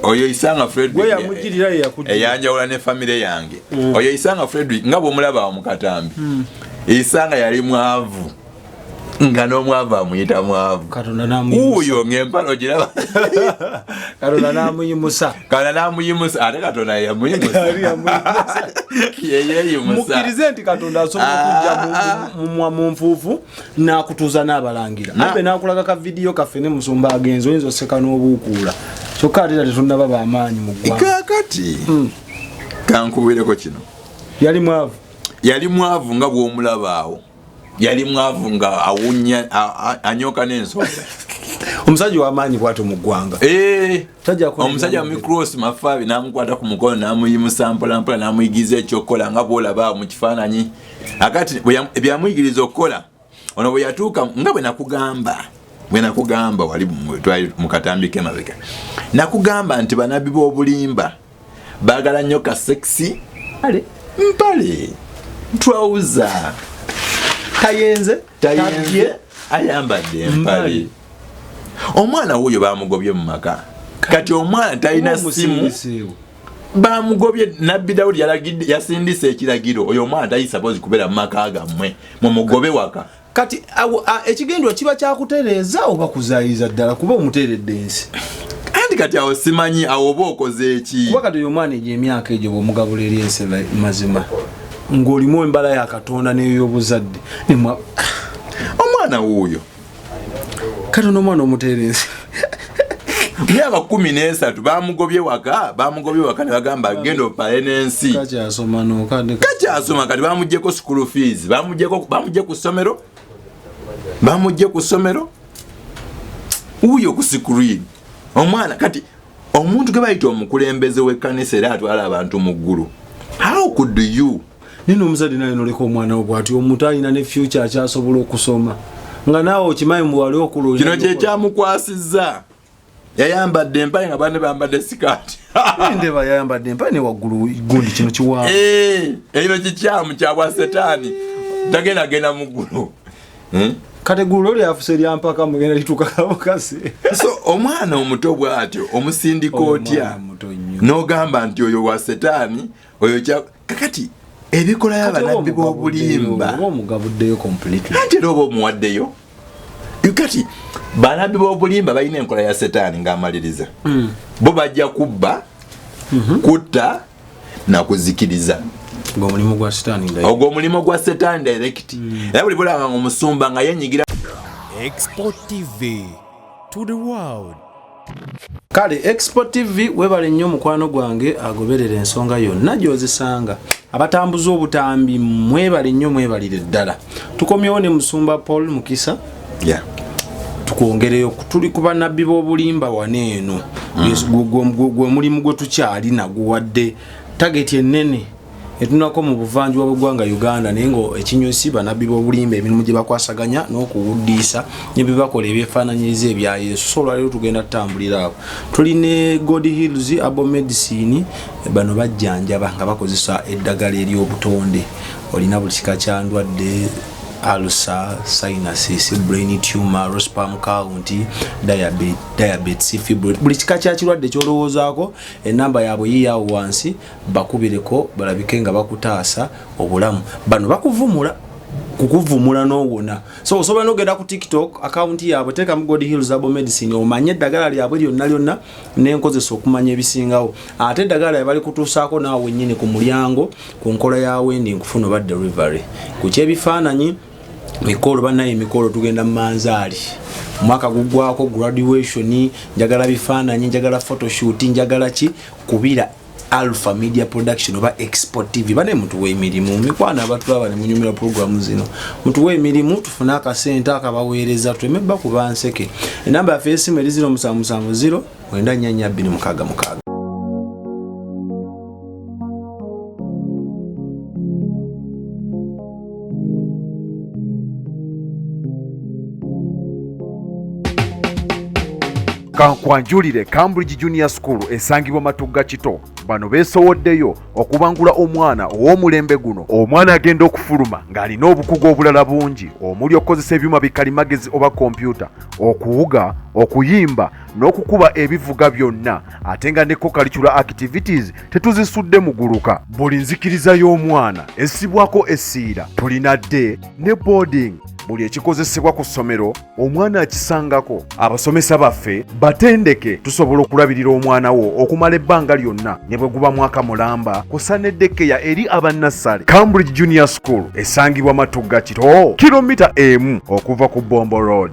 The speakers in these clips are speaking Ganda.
oyo isanga frederickeyamujiriraeyanjawula ne famire yange mm. oyo isanga frederick nga bwomulaba omukatambi mm. isanga yali mwavu nga n'omwavu amuyita mwavu uyo ng'empala ogiraba katonda n'amuyimusa katonda n'amuyimusa ate katonda yeyamuyimusayeyeyimusa mukirize nti katonda asobola okujja ah. mu nfuufu nakutuuza n'abalangira abe nakulaga ka vidiyo kaffe ne musumba agenzi oyinza oseka n'obuukuula kyokka ate era tetunnaba bamaanyi mu ggwangakati hmm. kankubeereko kino yali mwavu yali mwavu nga bw'omulabaawo yali mwavu nga awunya anyoka n'ensonga omusajja w'amaanyi bwatyo mu ggwanga eh. omusajja micros mafaabi namukwata ku mukono namuyimusa mpolampola namuyigiriza ekyokukola nga bwolaba mu kifaananyi akati byamuyigiriza okukola ono bwe yatuuka nga bwe nakugamba bwe nakugamba wali twali mu katambi kemabega nakugamba nti banabbi b'obulimba bagala nnyo ka sexy ale mpale ntwawuza tayenze tayenze ayambadde empale omwana wuyo bamugobye mu maka kati omwana talina simu bamugobye nabbi dawudi yasindisa ekiragiro oyo omwana tayisaboozi kubeera mu maka gammwe mumugobe waka kati ekigendwa kiba kyakutereeza oba kuzayiza ddala kuba omuteeredde ensi anti kati awo simanyi awo oba okoze eki kuba kati oyo omwana egyo emyaka egyo bwomugabula eri ensi mazima ng'olimu embala ya katonda neyoyobuzadde omwana wuuyo kati onoomwana omuteera ensi myaka kumi nesatu bamugobye waka bamugobye waka nebagamba genda opale nensi kakyasoma kati bamugyeko school fees bamugye ku ssomero bamugye ku ssomero wuyo ku screen omwana kati omuntu gwe bayita omukulembeze w'ekkanisa era atwala abantu mu ggulu how could you naye nomuzadde naye noleka omwana wo bwati omuntu alina ne fyuca akyasobola okusoma nga naawe okimanyi mbu wali okulooza kino kyekyamukwasizza yayambadde empale nga bane bambadde sikaati ndeba yayambadde empale ne waggulu gundi kino kiwaa eh, ekino kikyamu kyabwa setaani tagenda genda mu ggulu hmm? kati eggulu lyo lyafuse eryampaka mugenda litukakabukasi so omwana omuto bw'atyo omusindika otya n'ogamba nti oyo wa setaani oyo kakati ebikola yabanabbi bobulimba ate era oba omuwaddeyo kati banabbi bobulimba balina enkola ya setaani ngaamaliriza hmm. bo bajja kubba mhm. kutta nakuzikiriza ogwomulimu gwa setaani ogwomulimu gwa setaani direct hmm. era buli bulaba nga omusumba nga yenyigira export tv to the world kale expo tv webale nnyo mukwano gwange agoberera ensonga yonna gyozisanga abatambuza obutambi mwebale nnyo mwebalire ddala tukomyewo ne musumba paul mukisa yeah. tukwongereyo tuli ku banabbi b'obulimba wano eno mm. gwe mulimu gwe tukyali naguwadde tageti ennene etunako mu buvanjuba bwegwanga uganda naye nga ekinyusi banabbi bobulimba emirimu gyebakwasaganya n'okuwuddiisa nebyebakola ebyefaananyiriza ebya yesu so olwaliro tugenda tutambulira abo tuli ne god hills abo medicine bano bajjanjaba nga bakozesa eddagala ery'obutonde olina buli kika kya ndwadde alusa sinasis brain tumor rospam county diabetes fibro buli kika kya kirwadde kyolowoozaako enamba yaabwe yiyawo wansi bakubireko balabike nga bakutaasa obulamu bano bakuvumula kukuvumula nowona so osobola nogenda ku tiktok akawunti yaabwe tekamu god hills abo medicine omanye eddagala lyabwe lyonna lyonna nenkozesa okumanya ebisingawo ate eddagala yabali kutuusaako naawe nyini ku mulyango ku nkola ya wendi nkufuna oba delivery ku kyebifaananyi mikolo banaye emikolo tugenda mumanzaali omwaka gugwako graduation njagala bifaananyi njagala photoshoot njagala ki kubira Alpha Media Production oba Export TV bane mutuwe emirimu mikwano abatulaba ne munyumira programu zino mutuwe emirimu tufune akasente akabaweereza tuleme bakuba nseke enamba yaffe y'essimu eri 0770 wenda nyanya bbiri mukaaga mukaaga kankwanjulire cambridge junior school esangibwa matugga kito bano beesowoddeyo okubangula omwana ow'omulembe guno omwana agenda okufuluma ng'alina obukugu obulala bungi omuli okukozesa ebyuma bikalimagezi oba kompyuta okuwuga okuyimba n'okukuba ebivuga byonna ate nga ne kokalicula activities tetuzisudde muguluka buli nzikiriza y'omwana essibwako essiira tulina dde ne boarding buli ekikozesebwa ku ssomero omwana akisangako abasomesa baffe batendeke tusobola okulabirira omwana wo okumala ebbanga lyonna ne bwe guba mwaka mulamba kusaneddekeya eri abannassale cambridge junior school esangibwa matugga kiro kilomita emu okuva ku bombo road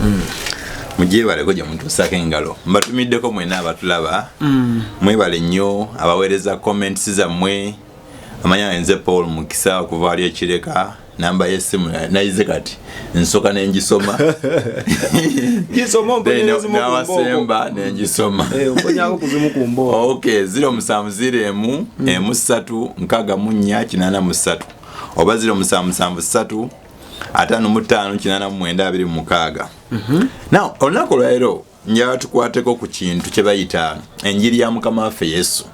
mm. mugyebaleko gye mutuusako engalo mbatumiddeko mwena abatulaba mm. mwebale nnyo abaweereza comments zammwe amanya enze paul mukisa okuva ali ekireka namba yesimu nayize kati nsoka nengisoma nawasemba nengisoma eh, ok ziro musanvu ziro emu mm. emu satu nkaga munya kinana musatu oba ziro musanvu musanvu satu ataano mu ttaano kinaana mu mwenda abiri mu mukaaga mhm. naw olunaku olwaleero njala tukwateko ku kintu kye bayita enjiri ya mukama waffe yesu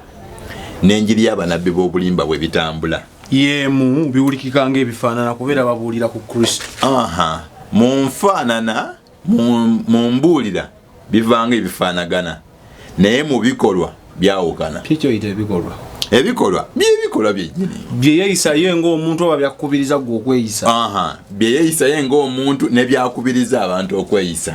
n'enjiri y'abanabbi b'obulimba bwe bitambula yemu biwulikika ngaebifaanana kubeera babuulira ku kristo aha mu nfaanana mu mbuulira bivanga ebifanagana naye mu bikolwa byawukana kikyoyita ebikolwa ebikolwa byebikolwa byenyini byeyeyisayo ngaomuntu oba byakubiriza gwe okweyisa byeyeyisayo ngaomuntu nebyakubiriza abantu okweyisa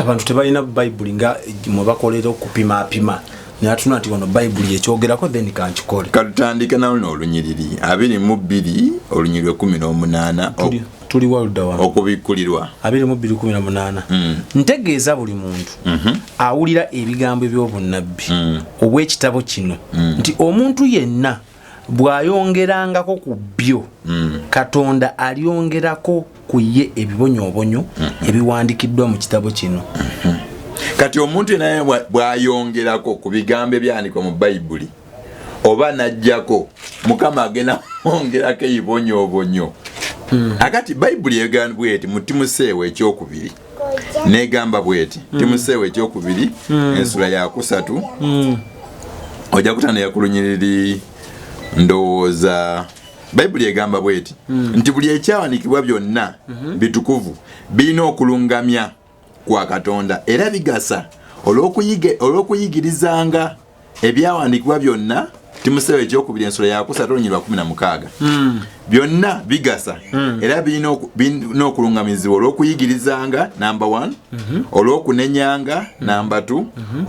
abantu tebalina bayibuli nga mwebakolera okupimapima natuna nti wano bayibuli yekyogerako then kankikole katutandike naluno olunyiriri abiri mu bbiri olunyiriri ekumi n'omunaana tuli walda wa okubikulirwa abiri mu biri kumi na munana mm. ntegeeza buli muntu mm -hmm. awulira ebigambo eby'obunnabbi mm. obw'ekitabo kino mm. nti omuntu yenna bw'ayongerangako ku byo mm. katonda alyongerako ku ye ebibonyoobonyo mm -hmm. ebiwandikiddwa mu kitabo kino mm -hmm. kati omuntu yenna bw'ayongerako ku bigambo ebyandikwa mu bayibuli oba najjako mukama agenda mwongerako ebibonyoobonyo hmm. akati bayibuli egamba bweti mutimuseewo ekyokubiri negamba bweti hmm. timuseewo ekyokubiri hmm. ensula yakusatu ojja kutana yakulunyiriri ndowooza bayibuli egamba bweti nti buli ekyawanikibwa byonna bitukuvu birina okulungamya kwa Katonda era bigasa olw'okuyigirizanga ebyawandiikibwa byonna timuseewo ekyokubiri ensolo yakusatu olunyiri lwa kumi na mukaaga hmm. byonna bigasa hmm. era birina okulungamizibwa olw'okuyigirizanga namba one mhm. olw'okunenyanga hmm. namba two mhm.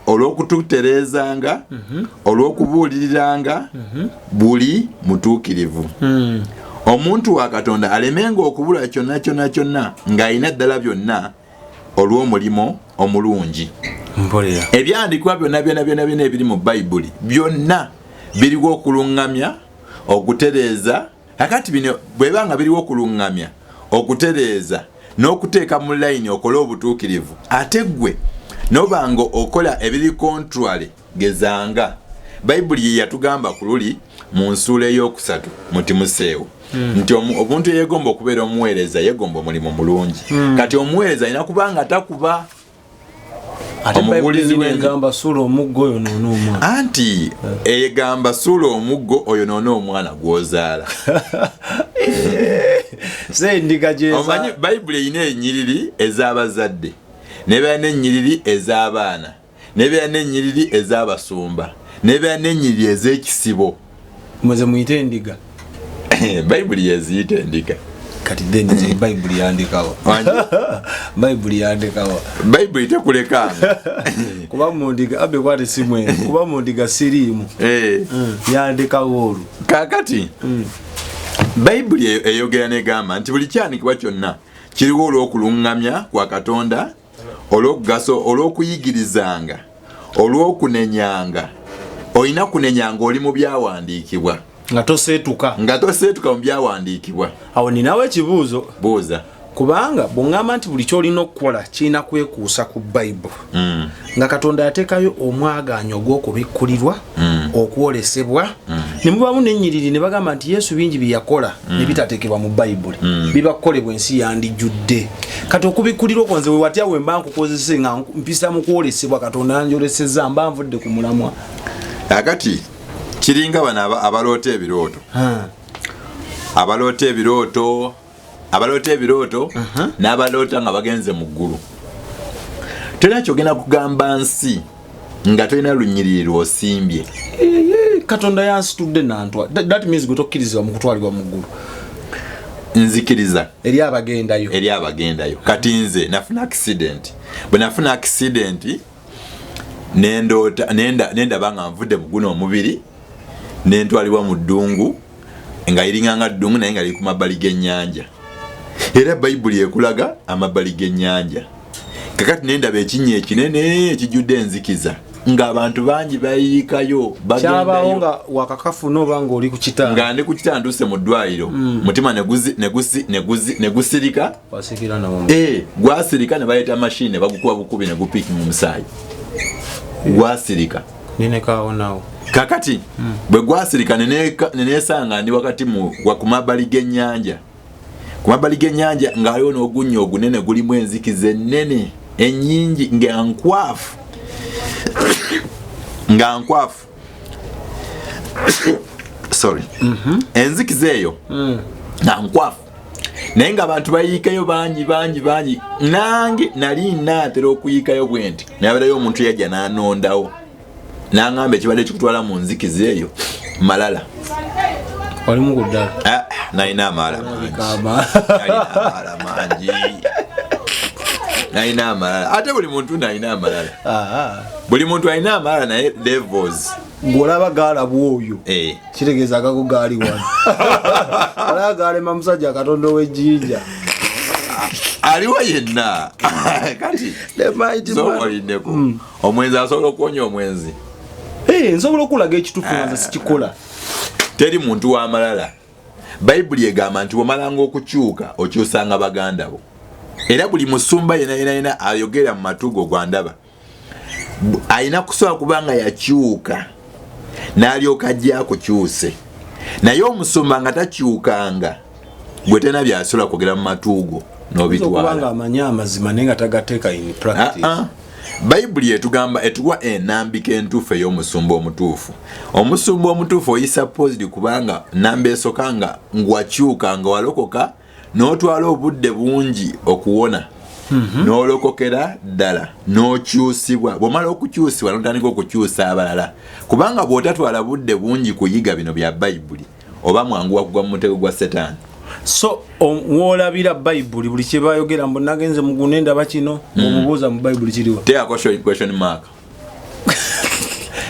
olw'okututereezanga mhm. olw'okubuuliriranga mhm. buli mutuukirivu hmm. omuntu wa katonda alemenga okubula kyonna kyonna kyonna ng'alina ddala byonna olw'omulimu omulungi ebyandikwa byonna byona byona byona ebiri mu bayibuli byonna biriwo okuluŋŋamya okutereeza Kakati bino bweba nga biriwo kulungamya okutereeza n'okuteeka mu layini okole obutuukirivu ate gwe noba nga okola ebiri kontwale gezanga bayibuli ye yatugamba ku luli mu nsuula ey'okusatu muti museewo hmm. nti obuntu eyegomba okubeera omuweereza yegomba omulimu mulungi hmm. kati omuweereza alina kuba nga takuba omubuulizi wegamba suula omuggo oyo noona omwana anti egamba suula omuggo oyo noona omwana gwozaala omanyi bayibuli erina enyiriri ez'abazadde nebeera n'enyiriri ez'abaana nebeera n'enyiriri ez'abasumba nebeera n'enyiriri ez'ekisibo muze muyite endiga bayibuli yeziyita endiga kati then bayibuli yandikawa bayibuli yandikawa bayibuli tekulekamu kuba mundiga abe kwati simwene kuba mundiga siriimu eh. mm, yandikawo olwo kakati mm. bayibuli eyo eyogera negamba nti buli kyanikibwa kyonna kiriwo olw'okuluŋŋamya kwa katonda olw'okugasa olw'okuyigirizanga olw'okunenyanga olina kunenyanga oli mu byawandiikibwa nga toseetuka nga toseetuka mu byawandiikibwa awo ninawo ekibuuzo buuza kubanga bwongamba nti buli kyolina okukola kirina kwekuusa ku bayibuli mm. nga katonda yatekayo omwagaanya ogw'okubikkulirwa mm. okwolesebwa mm. ne mubaamu n'ennyiriri ne bagamba nti yesu bingi bye yakola mm. ne bitateekebwa mu bayibuli mm. biba kukolebwa ensi yandijjudde kati okubikkulira okwo nze wewatya we mba nkukozese nga mpisa mu kwolesebwa katonda yanjoleseza mba nvudde ku mulamwa akati kiringa bano abaloota ebirooto abaloota ebirooto abaloota ebirooto uh -huh. n'abaloota nga bagenze mu ggulu tolina kyogenda kugamba nsi nga tolina lunyiriri lwosimbye katonda yansitudde nantwa that means gwe tokkirizibwa mu kutwalibwa mu ggulu nzikiriza eri abagendayo eri abagendayo kati nze nafuna accident bwe nafuna accident nendoota nenda nenda banga mvude muguna omubiri nentwalibwa mu ddungu nga iringa nga ddungu naye nga likuma bali genyanja era bayibuli ekulaga amabali genyanja kakati nenda bekinye ekinene ekijude enzikiza nga abantu bangi bayikayo bagendayo nga wakakafu no banga oli ku kitanda nga ndi ku kitanda nduse mu ddwaliro mm. mutima neguzi neguzi neguzi negusirika Eh, gwasirika ne bayita mashini bagukuba bukubi ne gupiki mu musaayi gwasirika kakati hmm. bwe gwasirika nenesanga ndi wakati ku mabbali g'ennyanja ku mabbali g'ennyanja ng'aliwo n'ogunnya ogunene gulimu enzikiza ennene ennyingi nga nkwafu nga nkwafu sorry mm -hmm. enzikiza eyo mm. nankwafu naye nga abantu bayiikayo bangi bangi bangi nange nali naatera okuyiikayo bwe nti nabeerayo omuntu yajja nanondawo nangamba ekibadde kikutwala mu nzikiza eyo malala olimu kuddala ah, nalina amaala mangi nalina amalala ate buli muntu nalina amalala ah, ah. buli muntu alina amaala naye levels ngolaba gaalabwa oyo eh. kitegeeza agago gaali wano alaba gaalema musajja katonda ow'ejjinja aliwo yenna kati zoolindeko hmm. omwenzi asobola okuwonya omwenzi eh, nsobola okulaga ekitufu naza ah. sikikola teri muntu wamalala bayibuli egamba nti wamalanga okukyuka okyusanga baganda bo era buli musumba yenayena yena ayogera mu matugo gwandaba alina kusobola kuba nga yakyuka n'alyoka ajja akukyuse naye omusumba nga takyukanga gwe tena byasobola kwogera mu matuugo nobitwala amanyi amazima naye nga tagateeka in practice ah, ah. bayibuli etugamba etuwa enambika entuufu ey'omusumba omutuufu omusumba omutuufu oyisa positi kubanga namba esoka nga ngwakyuka nga walokoka n'otwala obudde bungi okuwona mhm. n'olokokera ddala n'okyusibwa bw'omala okukyusibwa n'otandika okukyusa abalala kubanga bw'otatwala budde bungi kuyiga bino bya bayibuli oba mwangu wakugwa mu mutego gwa setaani so wolabira bayibuli buli kyebayogera mbu nagenze mugune ndaba kino mm. omubuuza mu bayibuli kiriwa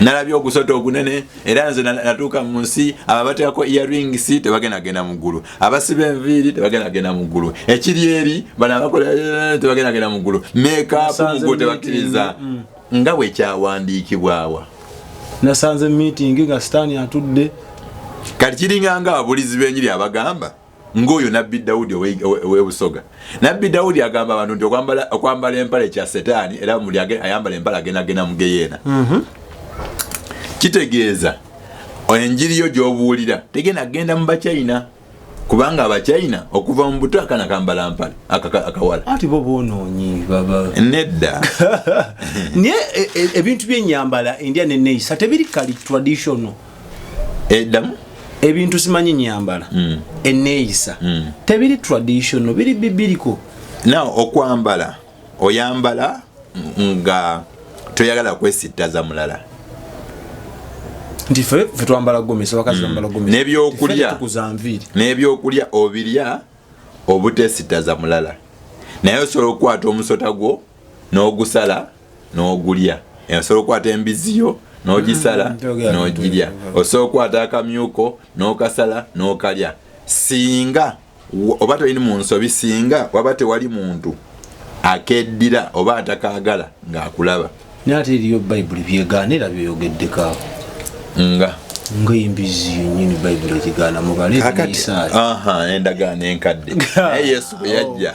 nalabye ogusota ogunene era nze natuuka mu nsi abo abateekako earings tebagenda genda mu ggulu abasiba enviiri tebagenda genda mu ggulu ekiri eri bano abakola eh, tebagenda genda mu ggulu mekapu mugo tebakkiriza mm. nga bwe kyawandiikibwawa nasanze meeting nga sitaani atudde kati kiringanga ababulizi b'enyiri abagamba ng'oyo nabbi dawudi ow'e busoga nabbi dawudi agamba abantu nti okwambala empale kya setaani era muli ayambala empale agenda genda mu geyeena mhm. kitegeeza enjiri yo gy'obuulira tegenda kugenda mu bachina kubanga abachina okuva mu buto akana kambala mpale akawala ati bo bonoonyi baba nedda naye e, e, ebintu by'enyambala endya neneyisa tebiri kali traditional edamu eh, ebintu simanyi nyambala mm. eneeyisa mm. tebiri traditional biri bibiriko na okwambala oyambala nga toyagala kwesittaza mulala nti fe twambala gomesi abakazi mm. bambala gomesi nebyokulya nebyokulya obirya obutesittaza mulala naye osobola okukwata omusota gwo n'ogusala no n'ogulya osobola okukwata embizzi yo n'ogisala mm-hmm. n'ogirya osobola okukwata akamyuko n'okasala n'okalya singa oba tolini mu nsobi singa waba tewali muntu akeddira oba atakaagala ng'akulaba naye ate eriyo bayibuli byegaana era byeyogeddeko nga ngaembizzi yenyini bayibuli egigaana mubaleendagaano enkadde naye yesu bwe yajja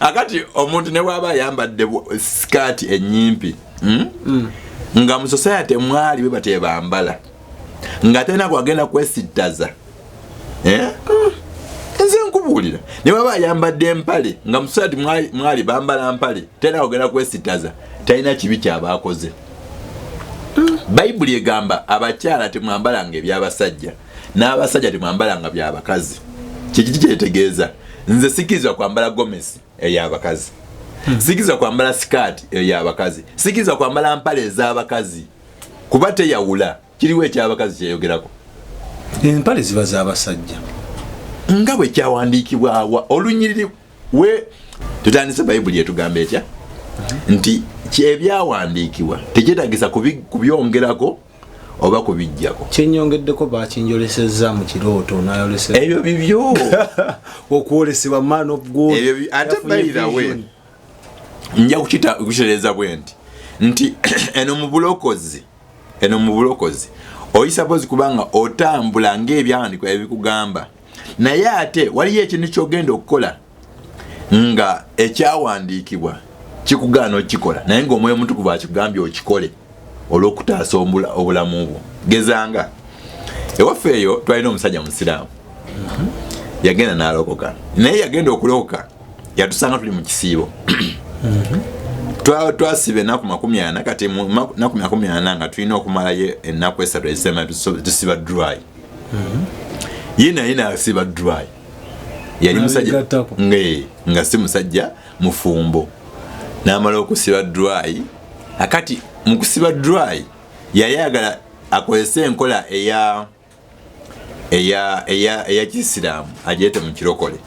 akati omuntu ne bwaba ayambadde sikaati enyimpi hmm? mm. nga mu society mwali bwe batebambala nga tena kwagenda kwesittaza eh? mm. nze nkubuulira ne baba ayambadde empale nga musaati mwali bambala mpale tena kwagenda kwesittaza talina kibi kyabaakoze mm. bayibuli egamba abakyala temwambalanga ebyabasajja n'abasajja temwambala nga byabakazi kikiki kyetegeeza nze sikirizibwa kwambala gomesi eyabakazi hmm. sikirizibwa kwambala sikaati eyabakazi sikirizibwa kwambala mpala ez'abakazi kuba teyawula kiriwo ekyabakazi kyeyogerako empale ziba z'abasajja nga bwe kyawandiikibwawa olunyiriri we tutandise bayibuli etugamba etya hmm. nti kyebyawandiikibwa tekyetagisa kubyongerako oba kubijjako kyenyongeddeko bakinjolesezza mu kirooto nayoleseza ebyo bibyo okwolesebwa man of god ebyo ate bayirawe nja kukitereeza bwe nti nti eno mu bulokozi eno mu bulokozi oyisabozi kubanga otambula ngaebyawandikwa ebikugamba naye ate waliyo ekintu kyogenda okukola nga ekyawandiikibwa kikugaana okukikola naye ngaomwoyo omutukuvu akigambye okikole olwokutaasa obulamu bwo gezanga ewaffe eyo twalina omusajja musiraamu yagenda nalokoka naye yagenda okulokoka yatusanga tuli mu kisiibo twasiba enaku makumi ana kati naku makumi ana nga tulina okumalayo enaku esatu ezisema tusiba dry mm-hmm. ye naye nasiba dry yali musajja nga si musajja mufumbo namala okusiba dry akati mukusiba dry yayagala akozese enkola eya eya eya eya kisiraamu ajeete mu kirokole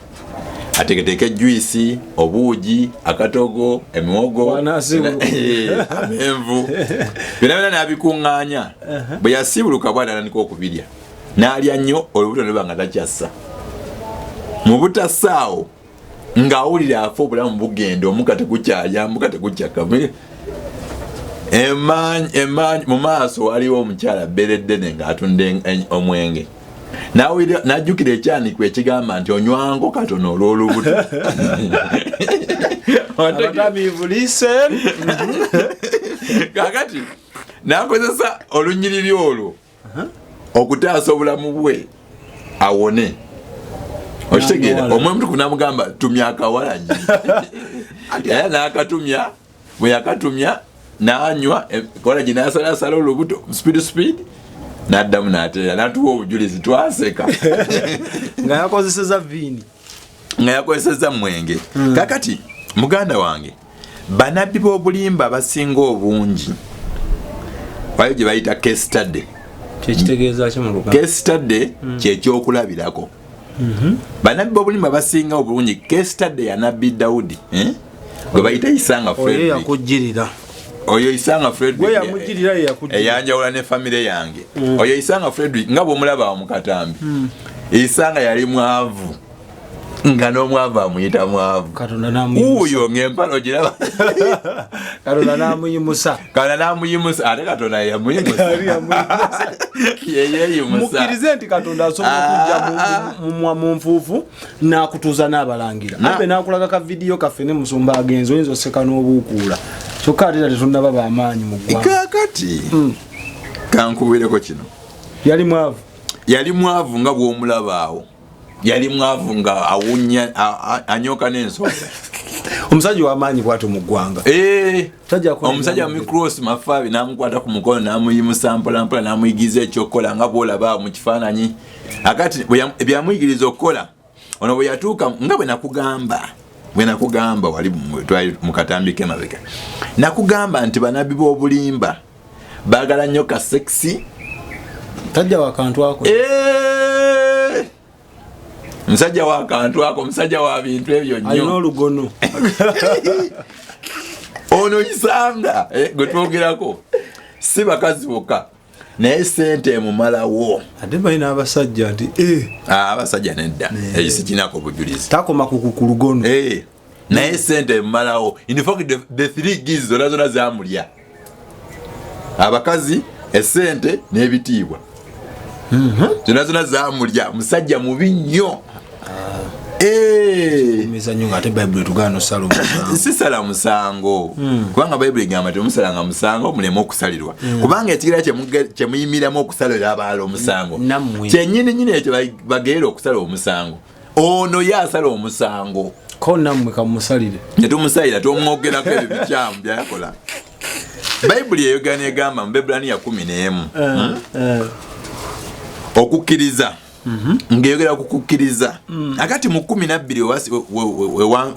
ateketeeke juisi obuugi akatogo emiwogo eh, amenvu byona byona nabikuŋŋaanya uh-huh. bwe yasiibuluka bwana anandika okubirya n'alya nnyo olubuto neba nga takyassa mu butasaawo ng'awulira afa obulamu bugenda omuka tegukyalya muka tegukyaka mu maaso waliwo omukyala bereddene ng'atunda omwenge najjukira ekyanikwa ekigamba nti onywango katono olw'olubuto kakati nakozesa olunyiriri olwo okutaasa obulamu bwe awone okitegeera omwe mutuku namugamba tumya akawalanyi era nakatumya bwe yakatumya n'anywa e, kola gye n'asalaasala olubuto speed speed n'addamu n'ateera n'atuwa obujulizi twaseka nga yakozeseza viini nga yakozeseza mwenge hmm. kakati muganda wange banabbi b'obulimba abasinga obungi wayo gye bayita case study kyekitegezaki muluga case study hmm. kyekyokulabirako Mhm. banabbi bobulimu abasinga obulungi kestade ya nabbi daudi eh? gwe bayita isanga fredakujirira oyo isanga frederickeyamujiriaeyanjawula eh, eh, ne famire yange mm. oyo isanga frederick nga bwomulaba mukatambi mm. isanga yali mwavu nga n'omwavu amuyita mwavu uyo ng'empalo giraba katonda n'amuyimusa kana namuyimusa ate katonda yeyamuyimusamukkirize nti katonda asobola ah. okujja mumwa mu nfuufu nakutuuza n'abalangira nabe ah. nakulaga ka vidiyo kaffe ne musumba agenzi oyinza oseka n'obuukuula kyokka ate ta tetunaba bamaanyi mu ggwangakati hmm. kankuwireko kino yali mwavu yali mwavu nga bw'omulabaawo yali mwavu nga awunya anyoka n'ensonga omusajja wamaanyi bwato mu ggwanga eh, omusajja micros mafaabi namukwata ku mukono namuyimusa mpolampola namuyigiriza ekyokukola nga bwolaba mu kifaananyi akati byamuyigiriza okukola ono bwe yatuuka nga bwe nakugamba bwe nakugamba wali twali mu katambi kemabega nakugamba nti banabbi b'obulimba bagala nyo ka sexy tajja wakantu ako eh msajja wakantu ako msajja wa bintu ebyo nyo alina olugono ono isanga eh, gwe twogerako si bakazi boka naye sente emumalawo ate balina abasajja nti eh. ah, abasajja nedda eh. ekyo sikinako bujulizi takoma kukukulugono eh. naye sente emumalawo infact the three giz zona zona zamulya abakazi esente n'ebitiibwa mhm. zona zona zamulya musajja mubi nnyo eh. sisala musango hmm. kubanga bayibuli egamba temusalanga musango muleme okusalirwa hmm. kubanga ekigera kyemuyimiramu okusalira abaala omusango kyenyini nyini ekyo bageera okusala omusango ono ye asala omusango ko nammwe kamusalire netumusalira tomwogerako ebyo bikyamu byayakola bayibuli eyogera negamba mu bebulaniya kumi n'emu eh, hmm? eh. okukkiriza mhm. ngeyogera ku kukkiriza hmm. akati mu kumi nabbiri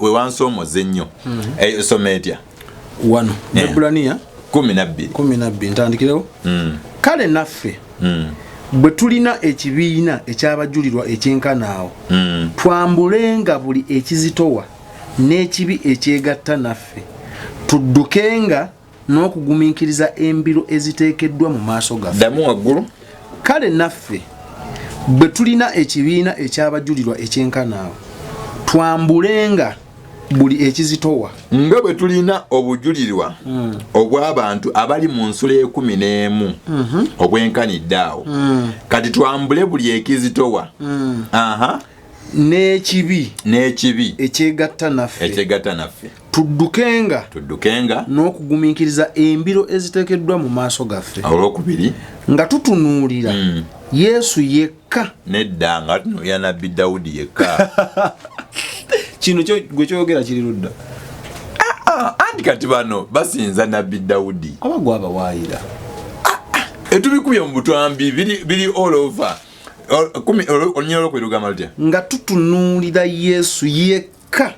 wewansomoza ennyo mhm. eh, esoma etya wano eh. ebulaniya kumi nabbiri kumi nabbiri ntandikirewo hmm. kale naffe hmm. bwe tulina ekibiina ekyabajulirwa ekyenkanaawo hmm. twambulenga buli ekizitowa n'ekibi ekyegatta naffe tuddukenga n'okugumiikiriza embiro eziteekeddwa mu maaso gaffe ddamu waggulu kale naffe bwe tulina ekibiina ekyabajulirwa ekyenkanaawo twambulenga buli ekizitowa nga bwe tulina obujulirwa mm. obw'abantu abali mu nsula ekumi n'emu mm -hmm. obwenkanidde awo mm. kati twambule buli ekizitowa mm. aha n'ekibi n'ekibi ekyegatta naffe ekyegatta naffe tuddukenga tuddukenga n'okugumiikiriza embiro eziteekeddwa mu maaso gaffe olwokubiri nga tutunuulira mm. yesu yekka yekka nedda nga tunoya nabbi dawudi yekka kino gwe kyoyogera kiri ludda ah, ah, anti kati bano basinza nabbi dawudi abagwa abawaayira ah, etubikubye mu butwambi biri all over olunya olwokwirugamba lutya nga tutunuulira yesu yekka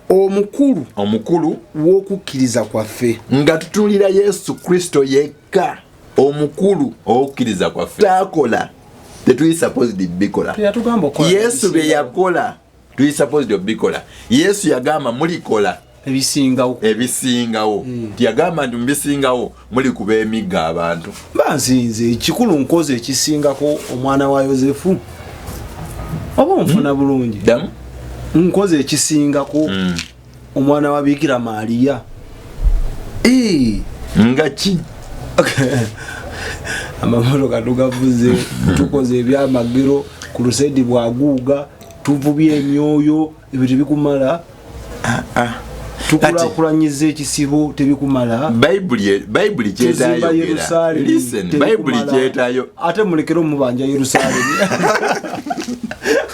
omukulu omukulu w'okukkiriza kwaffe nga tutunuulira yesu kristo yekka omukulu owokukiriza kwaffe takola tetuyisapozidbikola yesu byeyakola tuyisapozidi obikola yesu yagamba mulikola ebisingawo ebisingawo hmm. yagamba nti mubisingawo muli kuba emigga abantu banzinze ekikulu nkozi ekisingako omwana wa yosefu oba onfuna hmm. bulungi nkozi ekisingako hmm. omwana wa bikira maaliya nga ki amamotoka tugavuze tukoze ebyamagero ku lusedi bwaguuga tuvubye emyoyo ebyo tebikumala ah, ah. tukulakulanyiza ekisibo tebikumala bayibuli kyetayogerate mulekere omubanja yerusalemi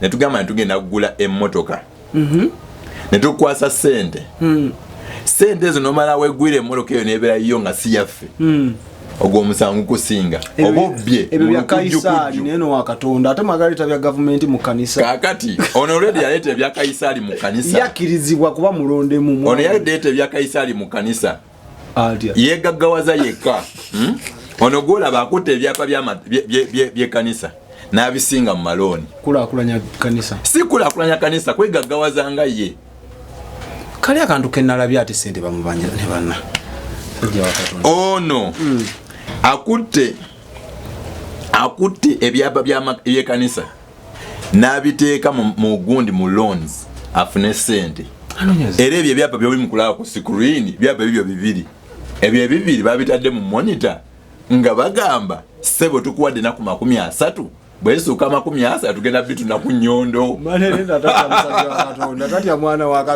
ne tugamba ne tugenda kugula emmotoka mhm. ne tukwasa ssente hmm. ssente ezo nomala wegwira emmotoka eyo nebeera yiyo nga si yaffe hmm. ogwo omusango kusinga oba obbye ebyo bya kayisaali naye nowa katonda ate magaleeta bya gavumenti mu kanisa kakati ono olwedi yaleeta ebya kayisaali mu kanisa yakkirizibwa kuba mulondemu ono yaleeta ebya kayisaali mu kanisa yegaggawaza yekka hmm? ono gwolaba akutte ebyapa byekanisa n'abisinga mu malooni si kulakulanya kanisa kwegaggawaza nga ye kali akantu kenalabye ate sente bamubanja ne banna ono hmm. akutte akutte ebyapa byekanisa n'abiteeka mu gundi mu loans afune sente era ebyo ebyapa byoli mukulaba ku sikuriini byapa ebibyo bibiri ebyo ebibiri babitadde mu monita nga bagamba sebo tukuwadde naku makumi asatu bwesuuka amakumi asa tugenda bituna ku nyondo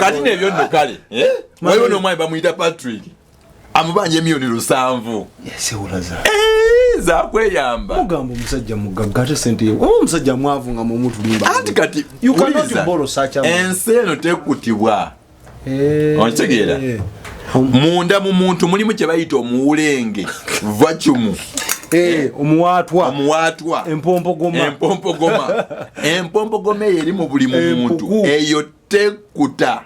kati nebyo nno kale eh? waliwo nomwami bamuyita patrick amubanja emiyoni lusanvu sewulaza eh, zakweyamba mugamba omusajja mugagga ate sente ye oba omusajja mwavu nga mumutulimba anti kati ensi eno tekutibwa eh. okitegeera munda mu muntu mulimu kye bayita omuwulenge vacumu eh, omuwaatwa omuwaatwa empompogoma empompogoma empompogoma eyo eri mu buli muntu eyo tekuta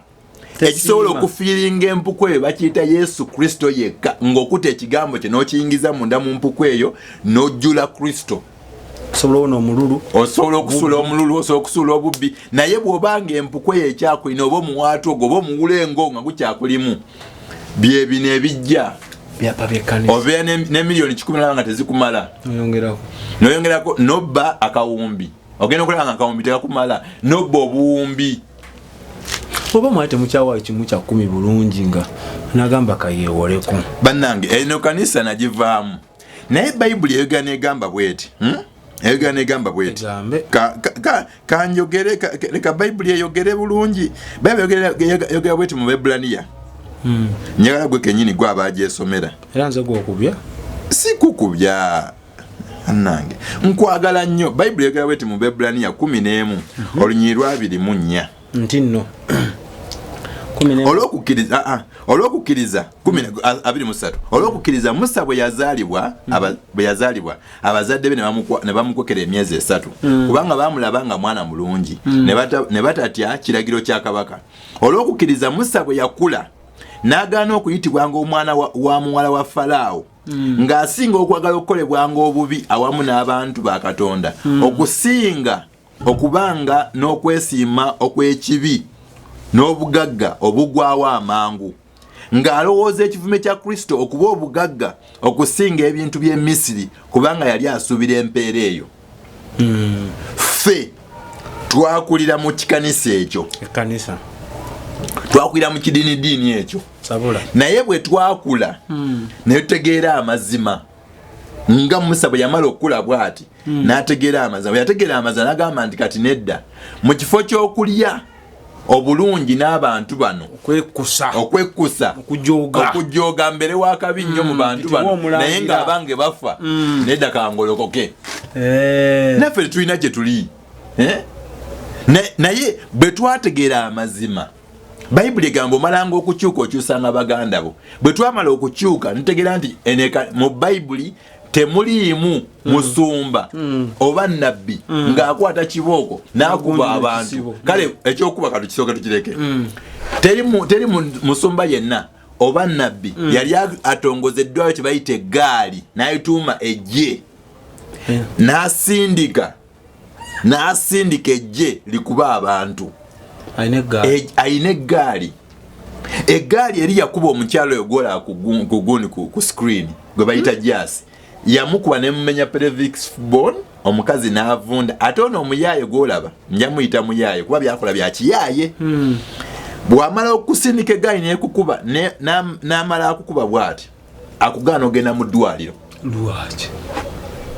ekisobola okufiiringa empuku eyo bakiyita yesu kristo yekka ng'okuta ekigambo kye n'okiyingiza munda mu mpuku eyo n'ojjula kristo osobola ona omululu osobola okusula omululu osobola okusula obubbi naye bw'oba nga empuku eyo ekyakulina oba omuwaatu ogwo oba omuwula engo nga gukyakulimu byebino ebijja obeera ne miliyoni kikumi naba nga tezikumala noyongerako nobba akawumbi ogenda okulaba nga akawumbi tekakumala nobba obuwumbi oba mwali temukyawa ekimu kya kkumi bulungi nga nagamba kayeewoleko bannange eno kanisa nagivaamu naye bayibuli eyogera negamba bweti hmm? eyogera negamba bweti kanjogere leka bayibuli eyogere bulungi bayibuli eyogera bweti mu bebulaniya hmm. njagala gwe kenyini gwe abagyesomera era nze gwokubya si kukubya nange nkwagala nnyo bayibuli egala bweti mu bebraniya kumi n'emu mhm. olunyiri lwabiri mu nnya nti nno olwokukkiriza ah, ah, olwokukkiriza abiri musatu olwokukkiriza musa bwe yazaalibwa mhm. bwe yazaalibwa abazadde be ne bamukokera emyezi esatu mhm. kubanga baamulaba nga mwana mulungi ne batatya kiragiro kya kabaka olwokukkiriza musa bwe yakula n'agaana okuyitibwa ng'omwana wa muwala wa falaawo mm. ng'asinga okwagala okukolebwanga obubi awamu n'abantu ba katonda mm. okusinga okubanga n'okwesiima okw'ekibi n'obugagga obugwawo amangu ng'alowooza ekivume kya kristo okuba obugagga okusinga ebintu by'emisiri kubanga yali asuubira empeera eyo mm. fe twakulira mu kikanisa ekyo ekanisa twakulira mu kidiini diini ekyo sabula naye bwe twakula mm. naye tutegeera amazima nga musa bwe yamala okukula bwati mm. n'ategeera amazima bwe yategeera amazima n'agamba nti kati nedda mu kifo ky'okulya obulungi n'abantu bano okwekkusa okujooga mbere wakabi nnyo mu mm, bantu bano naye ng'abange bafa mm. nedda kangolokoke eh. naffe tetulina gye tuli eh? naye bwe twategeera amazima bayibuli egamba omalanga okukyuka okyusanga baganda bo bwe twamala okukyuka ntegera nti mu bayibuli temuliimu mm. musumba mm. oba nabbi mm. ng'akwata kibooko n'akuba abantu kale ekyokuba katu kisooke tukireke teri musumba yenna oba nabbi yali atongoza eddwayo kye bayita eggaali n'ayituuma ejje eh. n'asindika n'asindika ejje likuba abantu alina eggaali eggaali eri yakuba omukyalo oyo gwola kuguni ku screen gwe bayita mm. jasi yamukuba nemumenya pelevix bon omukazi n'avunda ate ono omuyaaye gwolaba nja muyita muyaaye kuba byakola bya kiyaaye hmm. bwamala okusindika eggaali nekukuba n'amala akukuba bwati akugaana ogenda mu ddwaliro lwaki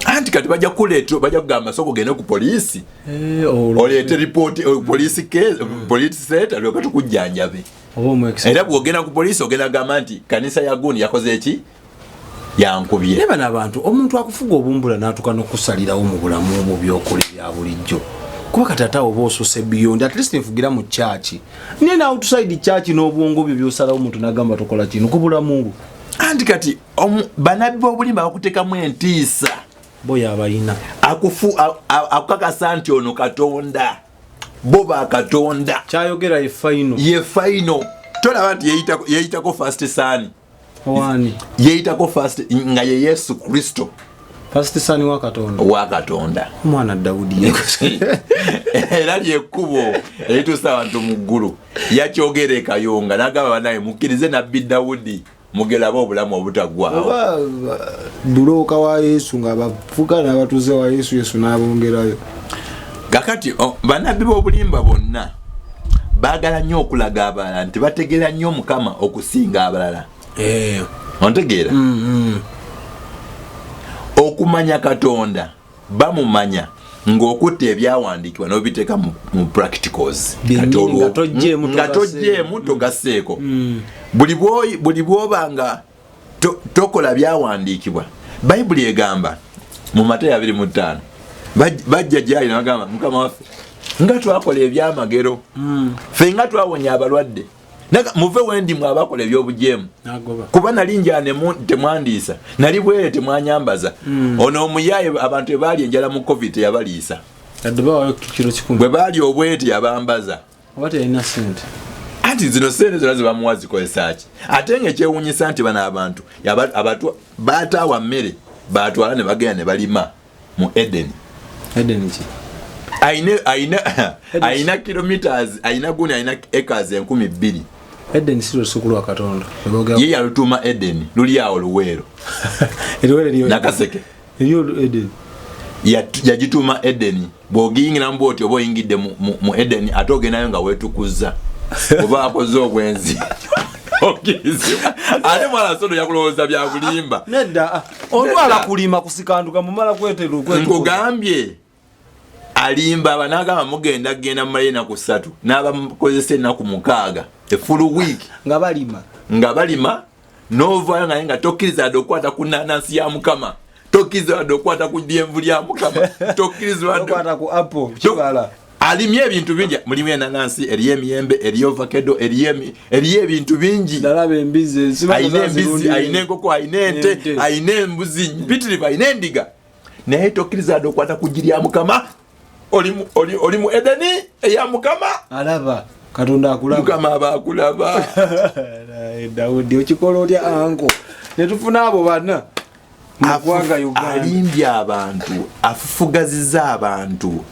anti kati bajja kuleeta bajja kugamba soko gende ku poliisi eh, oleete ripooti eh, poliisi keeza hmm. poliisi seeta lyoka tukujjanjabe era bwogenda ku poliisi ogenda gamba nti kanisa ya gundi yakoze eki yankubye naye bano abantu omuntu akufuga obumbula n'atuka n'okusalirawo mu bulamu mu byokola ebya bulijjo kuba kati ate awo oba osuse biyondi at least nfugira mu kyaki naye na outside church n'obwongo byo byosalawo omuntu nagamba tokola kino kubula mungu anti kati banabbi b'obulimba bakutekamu entiisa boyo abalina akufu akukakasa nti ono katonda bo ba katonda kyayogera ye faino ye faino tolaba nti yeyitako fast sani yeeyitako fast nga ye yesu kristo fastisani wa katonda wa katonda omwana dawudi era lyekkubo erituusa abantu mu ggulu yakyogera ekayonga nagamba banaye mukkirize nabbi dawudi mugelaba obulamu obutagwawo bulooka wa yesu nga bavuga nabatuuze wa yesu yesu n'abongerayo kakati oh, banabbi b'obulimba bonna baagala nnyo okulaga abalala nti bategeera nnyo mukama okusinga abalala eh. ontegeera mm, mm. okumanya katonda bamumanya ng'okutta ebyawandiikibwa n'obiteeka mu practicals nga tojeemu togaseeko mm. buli bwoba nga tokola byawandiikibwa bayibuli egamba mu matayo abiri mu ttaano bajja gyali nabagamba mukama waffe nga twakola ebyamagero hmm. fe nga twawonya abalwadde muve wendi mwe abakola ebyobujeemu kuba nali njanemu temwandiisa nali bwere temwanyambaza hmm. ono omuyaye abantu ebaali enjala mu covid teyabaliisa bwe baali obwete yabambaza oba teyalina sente anti zino sente zona zebamuwa zikozesaki ate nga ekyewunyisa nti bano abantu abatu bataawa mmere batwala ne bagenda ne balima mu edeni edeni ki aina aina aina kilometers aina guni aina acres enkumi bbiri Eden si lusuku lwa Katonda. Yeye alutuma Eden, luli yao luwero. Eruwero liyo. Nakaseke. eyo edeni yagituuma edeni bwogiyingiramu bwoti oba oyingidde mu edeni ate ogendayo nga wetukuzza oba akoze obwenzi okirizibwa ate mwana sono yakulowooza byabulimba nedda ah, olwala kulima kusikanduka mumala kweterunkugambye alimba abanagamba mugenda genda mumalayo enaku satu nabakozesa enaku mukaaga efulu week nga balima nga balima novayo naye nga tokiriza yadde okukwata ku nanansi ya mukama tokiriza yadde okukwata ku dyenvu lya mukama tokiriza alimye ebintu bingi mulimu enanansi eriyo emiyembe eriyo vakedo eriyo ebintu bingi alina embizi alina enkoko alina ente alina embuzi mpitirivu alina endiga naye tokkiriza yadde okwata ku ggi lya mukama oli mu edeni eya mukama alaba katonda akulaba mukama aba akulaba dawudi okikola otya anko netufuna abo bana alimbye abantu afufugaziza abantu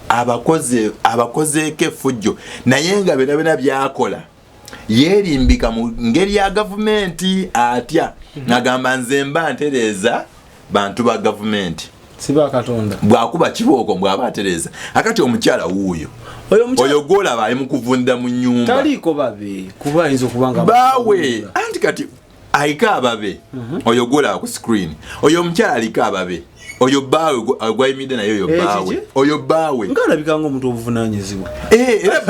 abakozeeko efujjo naye nga bena bena byakola yeerimbika mu ngeri ya gavumenti atya nagamba nze mba ntereeza bantu ba gavumenti bwakuba kibooko mbwaba atereeza akati omukyala wuuyo oyo gwolaba ali mu kuvundira mu nyumba baawe anti kati aliko ababe mhm. oyo gwolaba ku screen oyo omukyala aliko ababe oyo baawe gwayimidde naye oyo eh, baawe oyo baawe ngaalabika nga omuntu obuvunanyizibwa eh, era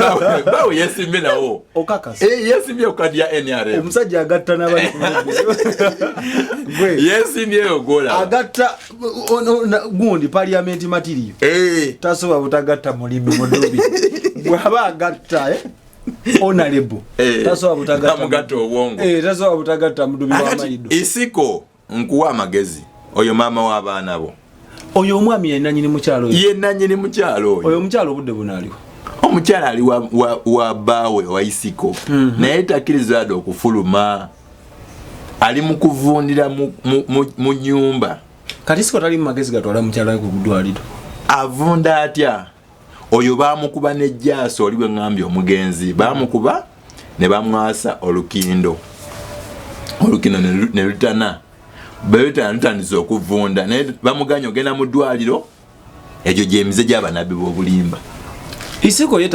baawe yesimbye nawo okakasa eh, yesimbye okadi ya nrm omusajja agatta nabali yesimbyeyo gola agatta gundi parliament materiyo tasobola butagatta mulimi mudubi bwaba agatta onalebo eh, tasobola butagatta obwongo eh, tasobola butagatta mudubi wamayido isiko nkuwa amagezi oyo maama w'abaana bo oyo omwami yenanyini mukyalo oyo yenanyini mukyalo oyo oyo omukyalo obudde bunaaliwo omukyala ali wa, wa, wa baawe wa isiko mm -hmm. naye takkiriza yadde okufuluma ali mu kuvundira mu, mu, mu, mu nyumba kati isiko tali mu magezi gatwala mukyala we ku ddwaliro avunda atya oyo bamukuba ne jaaso oli bwengambye omugenzi bamukuba ne bamwasa olukindo olukindo ne lutana bebetana lutandise okuvunda naye bamuganya ogenda mu ddwaliro egyo gyemize gyabanabi bobulimba isiko ye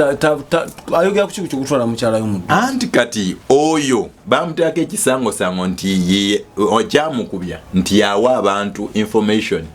ayogera kuki kyokutwala mukyala yomu anti kati oyo bamuteako ekisangosango nti okyamukubya nti yawa abantu information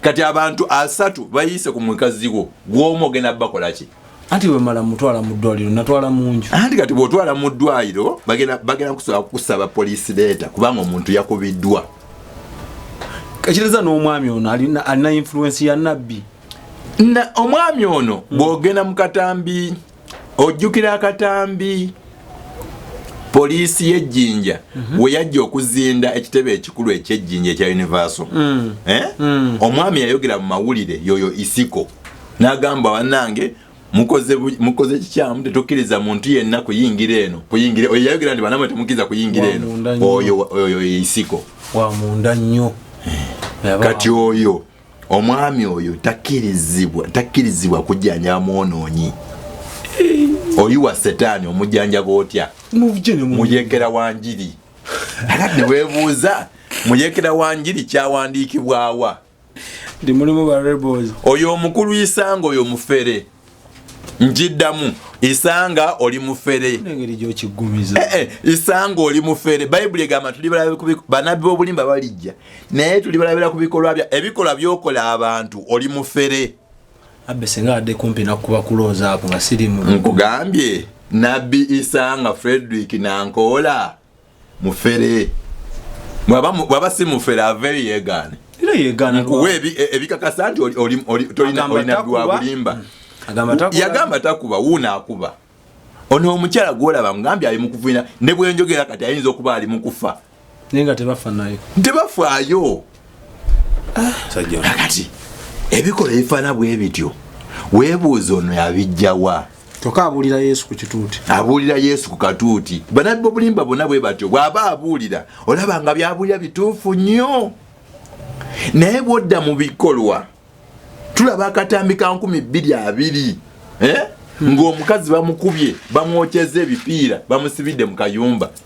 kati abantu asatu bayise ku mukazi wo gwomu ogenda bakolaki anti bwemala mutwala mu ddwaliro natwala munju anti kati bwotwala mu ddwaliro bagenda kusobola kukusaba poliisi leeta kubanga omuntu yakubiddwa ekireza n'omwami ono alina influensi ya nabbi omwami ono bwogenda mu katambi mm. ojjukira akatambi poliisi y'ejjinja mm -hmm. we yajja okuzinda ekitebe ekikulu eky'ejjinja ekya universal mm. eh? mm. omwami yayogera mu mawulire yoyo isiko n'agamba banange mukoze mukoze kikyamu tetukkiriza muntu yenna kuyingira eno kuyingira oyo yayogera nti banamwe temukkiriza kuyingira eno oyo oyo isiko wa munda nnyo eh. kati oyo omwami oyo takirizibwa takirizibwa kujjanja mwonoonyi oyiwa setaani omujjanjaba otya muyekera wa njiri ati newebuuza muyekera wa njiri kyawandiikibwawa ndi mulimu ba rebels oyo omukulu isanga oyo mufere njiddamu isanga oli mufere eh, eh, isanga oli mufere bayibuli egamba banabbi bobulimba balijja naye tuli balabira ku bikolwa bya ebikolwa byokola abantu oli mufere abbe singa adde kumpi nakuba kulooza ako nga sirimu nkugambye nabbi isanga frederick nankoola mufere bwaba si mufere aveyo yegaane nkuwa e, ebikakasa nti tolina dwabulimba yagamba takuba wuuna akuba ono omukyala gwolaba mugambye ali mukuvina ne bwenjogera kati ayinza okuba ali mukufa naye nga tebafa naye tebafaayo kakati ah. ebikola ebifaana bwe bityo weebuuza ono yabijjawa kyokka abuulira yesu ku kituuti abuulira yesu ku katuuti banabbi obulimba bonna bwe batyo bw'aba abuulira olaba nga byabuulira bituufu nnyo naye bwodda mu bikolwa tulaba akatambi ka nkumi bbiri abiri eh? hmm. ng'omukazi bamukubye bamwokyeza ebipiira bamusibidde mu kayumba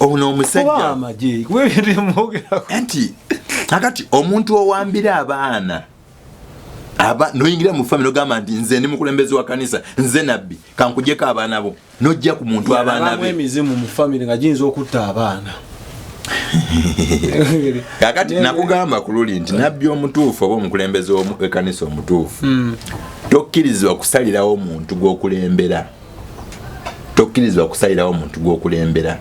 ono omusajja nti akati omuntu owambira abaana aba noyingira mu family ogamba nti nze ndi mukulembeze wa kanisa nze nabbi kankujeko abaana bo nojja ku muntu abaana be emizimu mu family nga giyinza okutta abaana kakati nakugamba ku luli nti nabbi omutuufu oba omukulembeze wekanisa omutuufu hmm. tokkirizibwa kusalirawo omuntu gwokulembera mm. tokkirizibwa kusalirawo muntu gwokulembera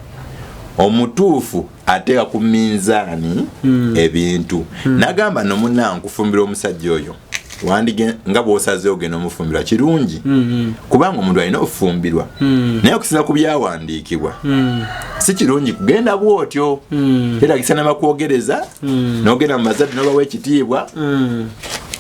omutuufu ateeka ku minzaani hmm. ebintu hmm. nagamba nomunaa nkufumbira omusajja oyo wandige nga bwosazeewo genda omufumbirwa kirungi hmm, kubanga omuntu alina okufumbirwa naye okusinza ku byawandiikibwa si kirungi kugenda bwotyo era kisanama kwogereza nogenda mu mazadde nobawa ekitiibwa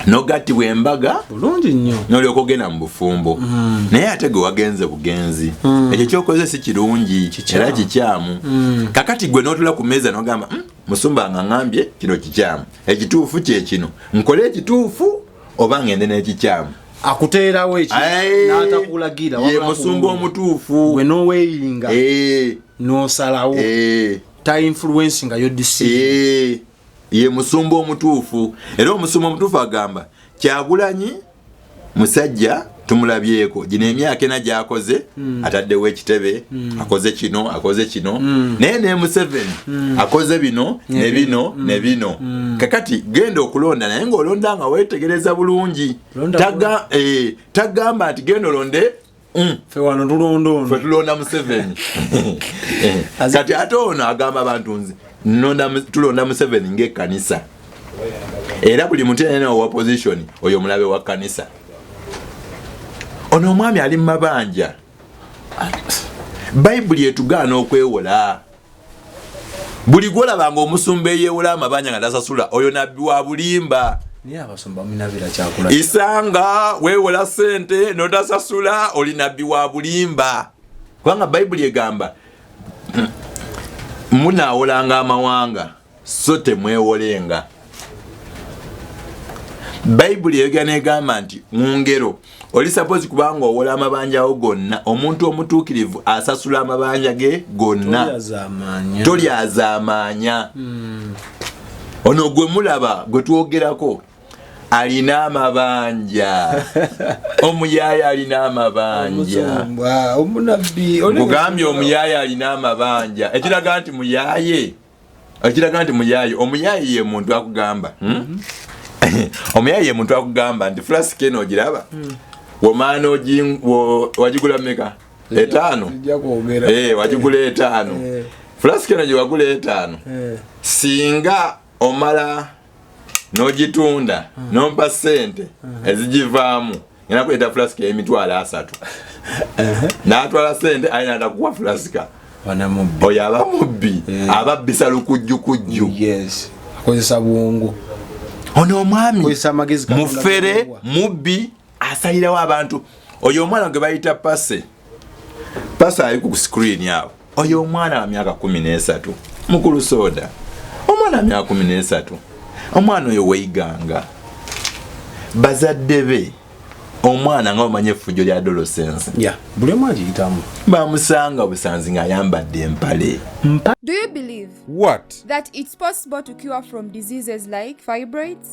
nogattibwa embaga bulungi nnyo nolyoka ogenda mu bufumbo mm. naye ate gwe wagenze bugenzi mm. ekyo kyokoze si kirungi era kikyamu mm. kakati gwe notula ku meeza nogamba mm, musumba nga ngambye kino kikyamu ekituufu kyekino nkole ekituufu oba ngende n'ekikyamu akuteerawo ekinatakulagira ye musumba omutuufu gwe noweeyinga eh. nosalawo eh. ta influensi nga yodisiye eh. ye musumba omutuufu era omusumba omutuufu agamba kyagulanyi musajja tumulabyeko gino emyaka ena gyakoze mm. ataddewo ekitebe mm. akoze kino akoze kino mm. naye ne museveni mm. akoze bino ne yeah, bino mm. ne bino mm. kakati genda okulonda naye ngaolonda nga wetegereza bulungi eh, tagamba nti genda olonde Mm. fe wano tulonda ono fe tulonda museveni kati ate ono agamba abantu nzi tulonda museveni ngaekkanisa era buli muntu yenene owa position oyo omulabe wa kkanisa ono omwami ali mu mabanja bayibuli etugaana okwewola buli gwolaba nga omusumba eyewola amabanja nga tasasula oyo nabbi wa bulimba isanga wewola sente notasasula oli nabbi wa bulimba kubanga bayibuli egamba munawolanga amawanga so temwewolenga bayibuli eyogera negamba nti mu ngero oli sapozi kubanga owola amabanjawo gonna omuntu omutuukirivu asasula amabanja ge gonna tolyazamaanya hmm. ono gwe mulaba gwe twogerako alina amabanja omuyaya alina amabanjaugambye omuyaya alina amabanja ekiraga nti muyaye okiraga nti muyaaye omuyaaye ye muntu akugamba hmm? omuyaaye ye muntu akugamba nti fulasika eno ogiraba hmm. womaana wagigula meka etaano eh, wagigula etaano eh. fulasika eno gyewagula etaano eh. singa omala nogitunda hmm. nompa sente hmm. ezigivaamu ena kuleeta fulasika emitwalo asatu uh-huh. natwala sente aye nada kuwa fulasika oyo aba mubbi ababbisa lukujjukujju akozesa bwongo ono omwami mufere mubbi asalirawo abantu oyo omwana gwe bayita pase pase ali ku screen awo oyo omwana wa myaka kumi n'esatu mukulu soda omwana wa myaka kumi n'esatu omwana oyo weiganga bazadde be omwana nga omanya effujjo lya adolescence yeah. buli omu agiyitamu bamusanga busanzi ng'ayambadde empale Do you believe What? that it's possible to cure from diseases like fibroids?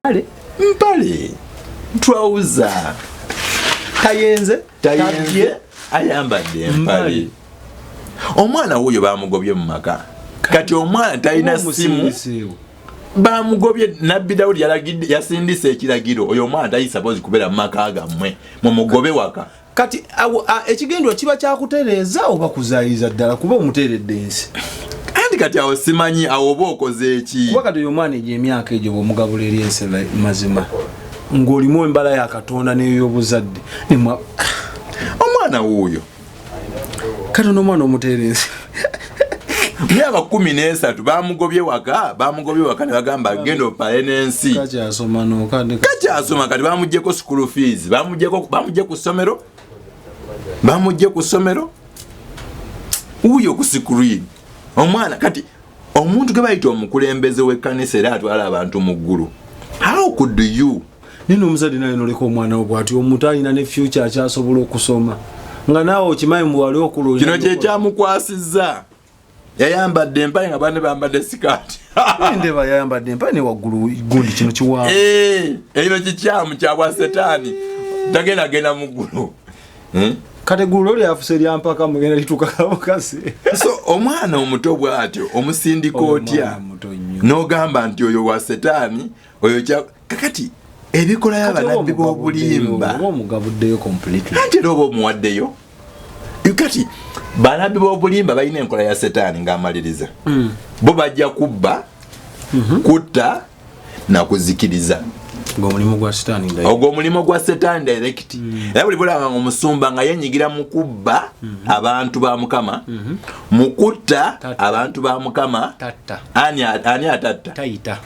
mpale mpale twawuza tayenze tayenze ayambadde empale omwana wuyo bamugobye mu maka kati omwana talina simu bamugobye nabbi dawudi yasindisa ekiragiro oyo omwana tayisaboozi kubeera mu maka gammwe mumugobe waka kati ekigendwa kiba kyakutereeza oba kuzayiriza ddala kuba omuteeredde ensi anti kati awo simanyi awo oba okoze eki kuba kati oyo omwana egyo emyaka egyo bwomugabula eri ensi mazima ng'olimu embala ya katonda neyoyobuzadde omwana wuuyo kati onoomwana omuteera ensi myaka kumi nesatu bamugobye waka bamugobye waka nebagamba genda opale nensi kakyasoma kati bamugyeko school fees bamugye ku ssomero bamugye ku ssomero wuyo ku screen omwana kati omuntu gwe bayita omukulembeze w'ekkanisa era atwala abantu mu ggulu how could you naye nomuzadde naye noleka omwana wo bwati omuntu alina ne future akyasobola okusoma nga naawe okimanyi muwali okulooza kino kyekyamukwasizza yayambadde empale nga bane bambadde sikaati ndeba yayambadde empale ne waggulu gundi kino kiwaamu eh, ekino kikyamu kyabwa setaani tagenda genda mu ggulu eh? kati gulo lyafuse lyampaka mugenda litukakamukasi so omwana omuto bwatyo omusindika otya nogamba nti oyo wa setaani oyo kya kakati ebikola y'abanabbi b'obulimba ate era oba omuwaddeyo kati banabbi b'obulimba balina enkola ya setaani ng'amaliriza hmm. bo bajja kubba mhm. kutta nakuzikiriza ogwomulimu gwa setaani direct hmm. era buli bulaba nga omusumba nga yenyigira mu kubba hmm. abantu ba mukama mhm. mu kutta abantu ba mukama ani atatta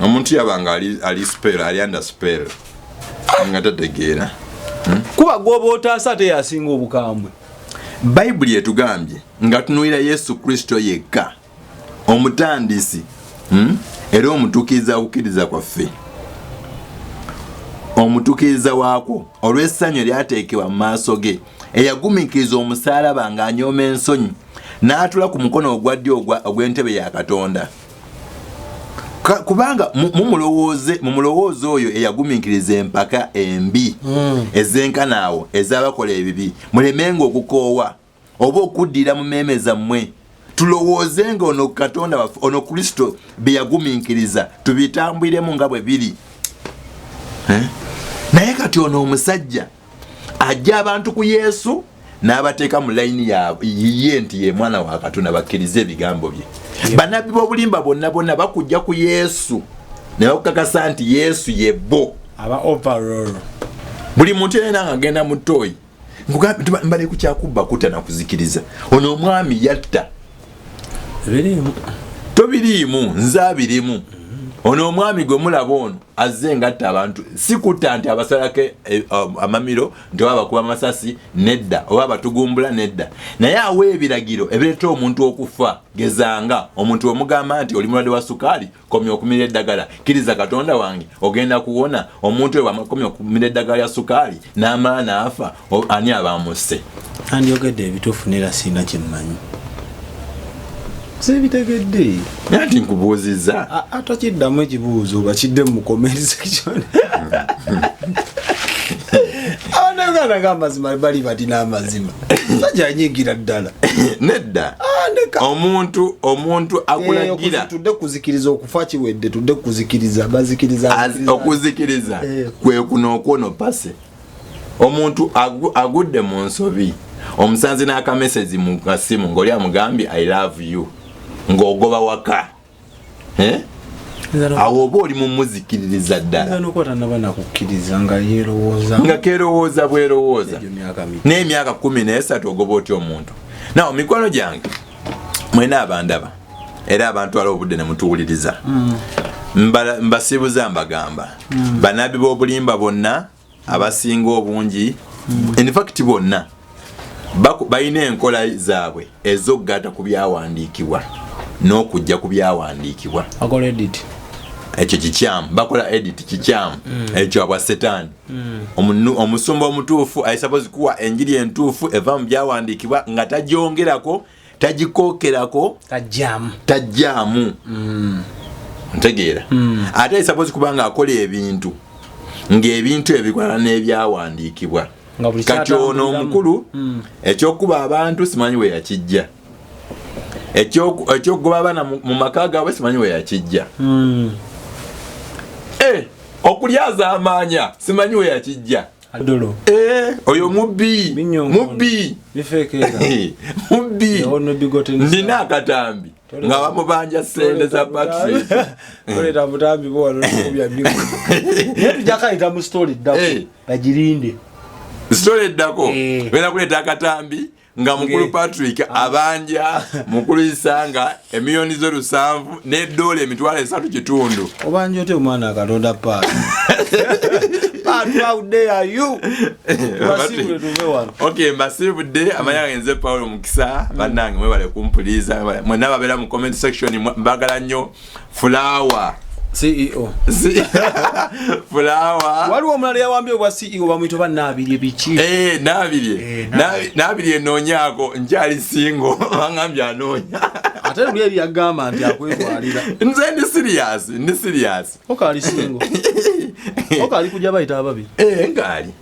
omuntu yabanga ali, ali spell ali under spell nga tategeera hmm? kuba gwoba otaasa ate yasinga obukambwe bayibuli etugambye nga tunuulira yesu kristo yekka omutandisi hmm? era omutukiza kukiriza kwaffe omutukiriza waakwo olw'essanyu eryateekebwa mu maaso ge eyagumikiriza omusaalaba ng'anyooma ensonyi n'atula ku mukono ogwa ddyo ogw'entebe ya katonda kubanga mumulowooze mumulowooze oyo eyagumiikiriza empaka embi hmm. ezenkana awo ezabakola ebibi mulemenga okukoowa oba okuddira mu meeme zammwe tulowooze nga ono katonda waffe ono kristo bye yagumiikiriza tubitambwiremu nga bwe biri eh? naye kati ono omusajja ajja abantu ku yesu n'abateeka mu layini yiye nti ye mwana wa katonda bakkirize ebigambo bye banabbi b'obulimba bonna bonna bakujja ku yesu ne bakukakasa nti yesu ye bo buli muntu yena nga agenda mu tooyi mbale ku kyakubba kutta nakuzikiriza ono omwami yatta tobiriimu nze abirimu ono omwami gwe mulaba ono azze ngatta abantu sikutta nti abasalako eh, um, amamiro nti oba bakuba amasasi nedda oba batugumbula nedda naye awa ebiragiro ebireeta omuntu okufa gezanga omuntu wemugamba nti oli mulwadde wa sukaali komya okumira eddagala kiriza katonda wange ogenda kuwona omuntu we bwamakomya okumira eddagala ya sukaali n'amaana afa ani abamusse andyogedde ebituufu nera siina kyemmanyi sebitegedde naye nti nkubuuzizza atakiddamu ekibuuzo bakidde mu comment section abanauganda gamazima bali bati n'amazima sajja anyigira ddala nedda ah, omuntu omuntu akulagira eh, tudde kuzikiriza okufa kiwedde tudde kuzikiriza bazikiriza okuzikiriza eh. kwe kuno okwono pase omuntu agudde mu nsobi omusanzi n'akamesezi mu kasimu ng'oli amugambye i love you ng'ogoba waka awo oba oli mumuzikiririza ddalanga kerowooza bwerowooza n'emyaka kumi nesatu ogoba otya omuntu nawo mikwano gyange mwena abandaba era abantu ala obudde nemutuwuliriza mm. mbasibuza mbagamba mm. banabi b'obulimba bonna abasinga obungi mm. in fact bonna balina enkola zaabwe ez'okugaata ku byawandiikibwa n'okujja ku byawandiikibwa ekyo kikyamu bakola edit kikyamu mm. ekyo abwa setaani mm. omusumba omutuufu aisabozi kuwa enjiri entuufu eva mu byawandiikibwa nga tagyongerako tagikokerako tajjamu tajjamu mm. ntegeera mm. ate suppose kubanga akola ebintu ng'ebintu ebikwala n'ebyawandiikibwa kati ono omukulu mm. ekyokuba abantu simanyi we yakijja ekyokugoba abaana mu maka gaabwe simanyi we yakijja mm. eh, okulyazaamaanya simanyi we yakijja adolo eh oyo mubbi mubbi bifekeera mubbi yawo no bigote ni ndina akatambi nga bamubanja sente za battery kole ta mutambi bo wano kubya biko yetu jaka ita mu story dako hey. Eh. ajirinde story dako hey. Eh. wena kuleta akatambi nga mukulu patrick ah. abanja mukulu isanga emiliyoni zo lusanvu ne dola emitwalo esatu kitundu obanja ote omwana akatonda paati ok mbasibudde amanya gange nze paulo mukisa bannange mwebale kumpuliza mwena babeera mu comment section mbagala nnyo mm. fulawa ceo fulawa waliwo omulala yawambye obwa ceo bamwita oba nabirye biki eh, nabirye eh, nabirye noonyako nkyali singo bangambye anoonya ate luli eri yagamba nti akwetwalira nze ndi siriyasi ndi siriyasi okaali singo okaali kujja bayita ababiri eh, ngaali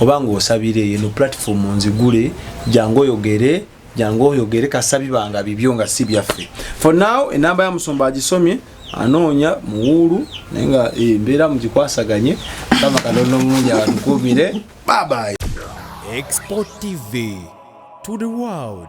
oba ng'osabira eyo eno platform nzigule jangu oyogere jangu oyogere kasabibanga bibyo nga si byaffe for now enamba ya musumba agisomye anoonya muwuulu naye nga eh, mbeera mugikwasaganye kama kanono mulungi abatukuumire babayi export tv to the world